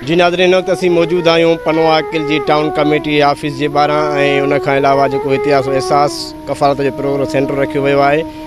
جي ناظرين هن وقت اسين موجود آهيون پنو عاقل جي ٽائون ڪميٽي آفيس جي ٻاهران ۽ ان کان علاوه جيڪو هتي آسو احساس ڪفالت جو پروگرو سينٽر رکيو ويو آهي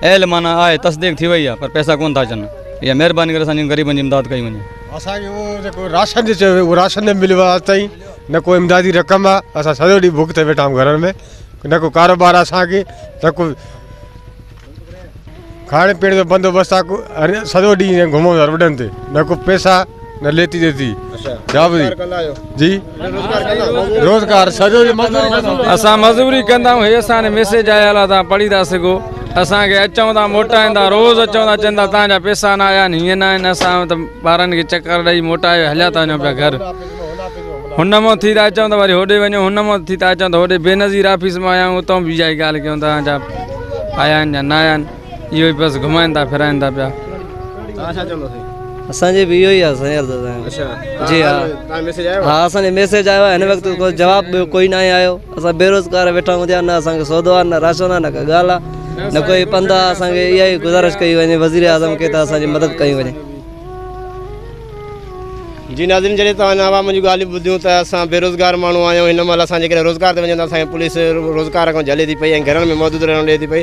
ايل معنيٰ آهي تصديق ٿي وئي آهي پر پئسا ڪونه ٿا اچن ايا مهرباني ڪري اسان جهڙن غريبن جي امداد ڪئي وڃي. اسان کي اهو جيڪو راشن جو چيو ويو اهو راشن نه مليو آهي اڄ تائين نه ڪو امدادي رقم آهي اسان سڄو ڏينهن بک تي ويٺا آهيون گهرن ۾ نه ڪو ڪاروبار آهي اسان کي نه ڪو کائڻ پيئڻ جو بندوبست آهي ڪو سڄو ڏينهن ائين گهمون ٿا روڊن تي نه ڪو پئسا ليٽي ڏي ٿي جابري جي روزگار سڄو اسان مزدوري ڪندا آهيون هي اسان ميسيج آيا لا تان پڙهي ٿا سگو اسان کي اچون ٿا موٽائين ٿا روز اچون ٿا چندا تان جا پيسا نه آيا نه نه نه اسان ته ٻارن کي چڪر ڏئي موٽائي هليا ٿا وڃو پيا گهر هن مو ٿي ٿا اچون ته وري هوڏي وڃو هن مو ٿي ٿا اچون ته هوڏي بينظير آفيس مان آيا آهيون اتو بي جائي ڳالهه ڪيون ٿا جا آيا آهن يا نه آيا آهن اهو ئي بس گهمائين ٿا ڦرائين ٿا پيا توهان ڇا چوندو سائين اسان جي به اهو ئي آ سائين عرض سائين اڇا جي ها توهان ميسيج آيو ها اسان جي ميسيج آيو آ هن وقت ڪو جواب ٻيو ڪوئي نه آهي آيو اسان بيروزگار ويٺا آهيون جيان نه اسان کي سودو آ نه راشن آ نه ڪا ڳالهه آ نه ڪوئي پنڌ آ اسان کي اها ئي گذارش ڪئي وڃي وزير اعظم کي ته اسان جي مدد ڪئي وڃي جي ناظرين جڏهن توهان هن عوام جون ڳالهيون ٻڌيون ته اسان بيروزگار ماڻهو آهيون هن مهل اسان جيڪڏهن روزگار تي وڃون ته اسان کي پوليس روزگار کان جهلي ٿي پئي ۽ گهرن ۾ محدود رهڻو ڏئي ٿي پئي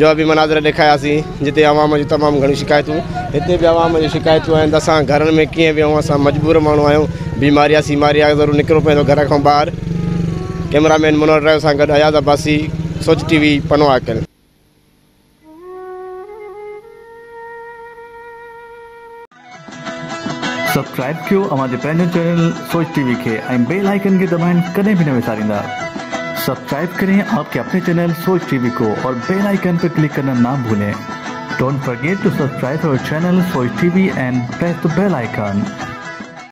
جا به مناظر ڏيکارياسين جتي عوام جون تمام گهڻيون شڪايتون هتي به عوام جون شڪايتون آهن ته اسان گهرن ۾ ڪيئن ويهون اسان مجبور ماڻهو آهيون بيماريا سيماريا ضرور نڪرڻو پوندو گهر کان ٻاهر ڪئميرا مين منور ڊرائيو سان گڏ اياز عباسي سوچ ٽي وي پنو آڪل سبسڪرائب ڪيو اوهان جي پنهنجي چينل سوچ ٽي وي کي ۽ بيل آئيڪن کي دٻائڻ ڪڏهن به نه وساريندا سبسڪرائب ڪرين آپ ڪي اپني چينل سوچ ٽي وي ڪو اور بيل آئيڪن پي ڪلڪ ڪرنا نا ڀولين ڊونٽ فرگيٽ ٽو سبسڪرائب اور channel Soch T V and press the bell icon.